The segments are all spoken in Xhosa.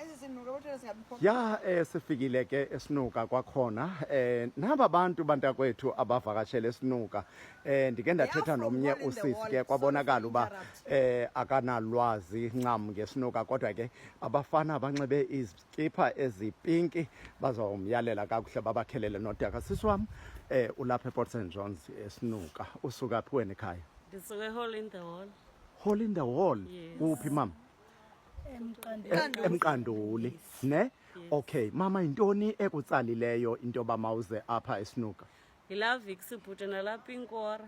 Ezi zinuka kodwa zingabikho. Ya eh sifikile ke esinuka kwakhona eh naba bantu bantakwethu abavakashele esinuka eh ndike ndathetha nomnye usisi ke kwabonakala uba eh akanalwazi ncam ngesinuka kodwa ke abafana abanxibe izikipha ezipinki bazawumyalela kakuhle babakhelele nodaka sisi wam eh ulapha ePort St John's esinuka usuka phi wena ekhaya Ndisuke hole in the wall. Hole in the wall kuphi mama emqanduli emqanduli ne okay mama yintoni ekutsalileyo into yoba mawuze apha esinuka yilavik sibhuti nalapha inkora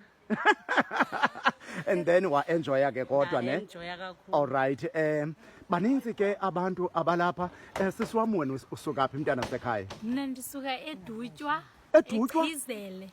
and then waenjoya ke kodwa ne enjoya kakhulu all right um baninzi ke abantu abalapha um eh, sisi wam wena usuka phi mntana sekhaya mna ndisuka edutywa Edutywa? ekhizele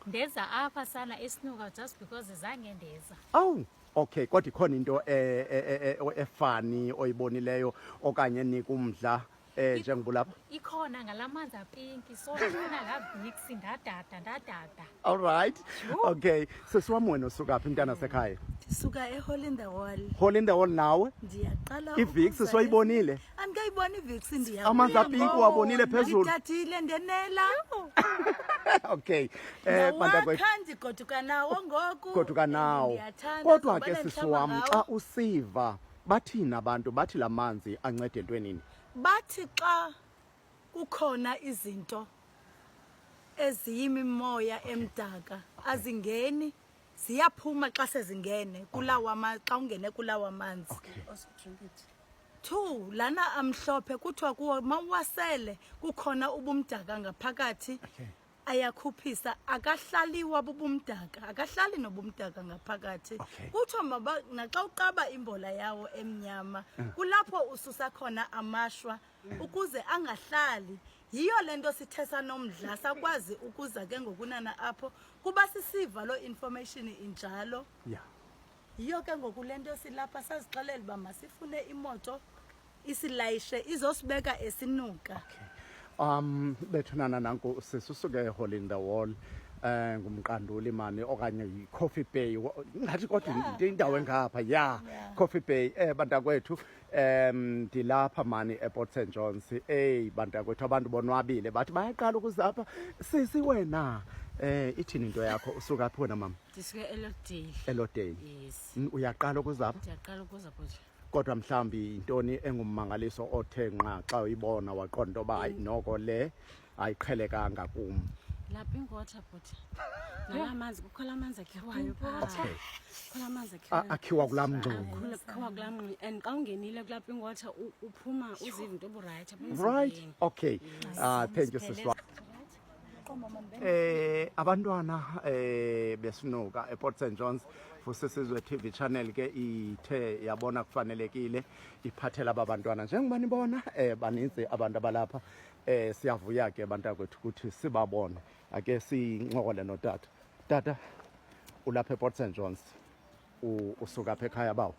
ndeza apha sana esinuka just because zange ndeza awu Okay, kodwa ikhona into eh, eh, eh, eh, efani oyibonileyo okanye enika umdla eh njengoba ulapha. ikhona ngalamanzi apinki so ndifuna ngavix ndadada ndadada All right. Okay, sisi wam wena usuka phi mntana sekhaya? ndisuka ehole in the wall Hole in the hall nawe. ndiyaqala I-Vicks ukuza- soyibonile? andikayiboni iviksi ndiya amanzi apinki uwabonile phezulu ndithathile ndenela okay eh bantakwethu ndigoduka nawo ngoku goduka nawo kodwa ke sisi wam xa usiva bathini abantu bathi la manzi ancede entwenini bathi xa kukhona izinto eziyimimoya emdaka azingeni ziyaphuma xa sezingene kulawa xa ungene kulawa manzi two lana amhlophe kuthiwa kuwo ma uwasele kukhona ubumdaka ngaphakathi ayakhuphisa akahlaliwa bubumdaka akahlali nobumdaka ngaphakathi kuthiwa maba naxa uqaba imbola yawo emnyama mm. kulapho ususa khona amashwa mm. ukuze angahlali mm. yiyo le nto sithe sanomdla sakwazi ukuza ke ngokunana apho kuba sisiva loo information injalo ya yiyo ke ngoku le nto silapha sazixelela uba masifune imoto isilayishe izosibeka esinuka okay. um bethunana nanku sisusuke ehole in the wall eh ngumqanduli mani okanye yicoffee bay ngathi kodwa indawo engapha ya coffee bay eh bantakwethu um ndilapha mani eport st johns eyi bantakwethu abantu bonwabile bathi bayaqala ukuza apha sisi wena Eh ithini into yakho usuka phi wena mama? Ndisuke eLodale. eLodale. Yes. N- Uyaqala ukuzapha Ndiyaqala ukuza kuzo. kodwa mhlawumbi yintoni engummangaliso othe nqa xa uyibona waqonda into yoba hayi noko le ayiqhelekanga kum lapha ingota bhuti nala manzi kukhona amanzi akhiwayo okay kukhona amanzi akhiwayo akhiwa kulaa mngxumi akhiwa kulaa mngxumi and xa ungenile kulapha ingota uphuma uziva into oburayithi right okay uh, thank you siswa eh abantwana eh besinuka ePort St John's fusisizwe TV channel ke ithe yabona kufanelekile iphathela abantwana njengoba nibona eh baninzi abantu abalapha Eh siyavuya ke bantakwethu ukuthi sibabone. Ake sincokole notata. Tata ulapha ePort St John's. Usuka phe ekhaya bawo.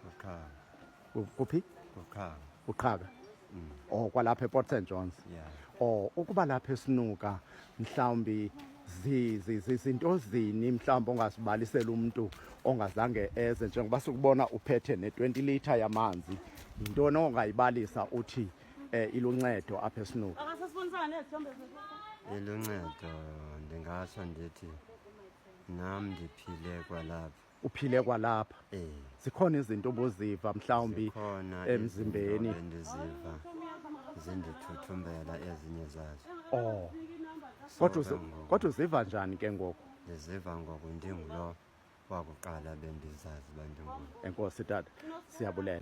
Uqhaka. Kuphi? Uqhaka. Uqhaka. Mm. Oh kwalapha ePort St John's. Yeah. Oh ukuba lapha esinuka mhlawumbi zizinto zini mhlawumbi ongasibalisela umuntu ongazange eze njengoba sikubona uphethe ne-20 litre yamanzi yintoni ongayibalisa uthi Eh iluncedo apha esinuku. Akasasibonisana nezithombe zethu. Iluncedo ndingatsho ndithi nam ndiphile kwalapha. Uphile kwalapha. Eh. Zikhona izinto obuziva mhlawumbi emzimbeni. Ndiziva zindithuthumbela ezinye zazo. Oh. Kodwa kodwa uziva njani ke ngoku? Ndiziva ngoku ndingulo wakuqala bendizazi bandingulo. Enkosi tata siyabulela.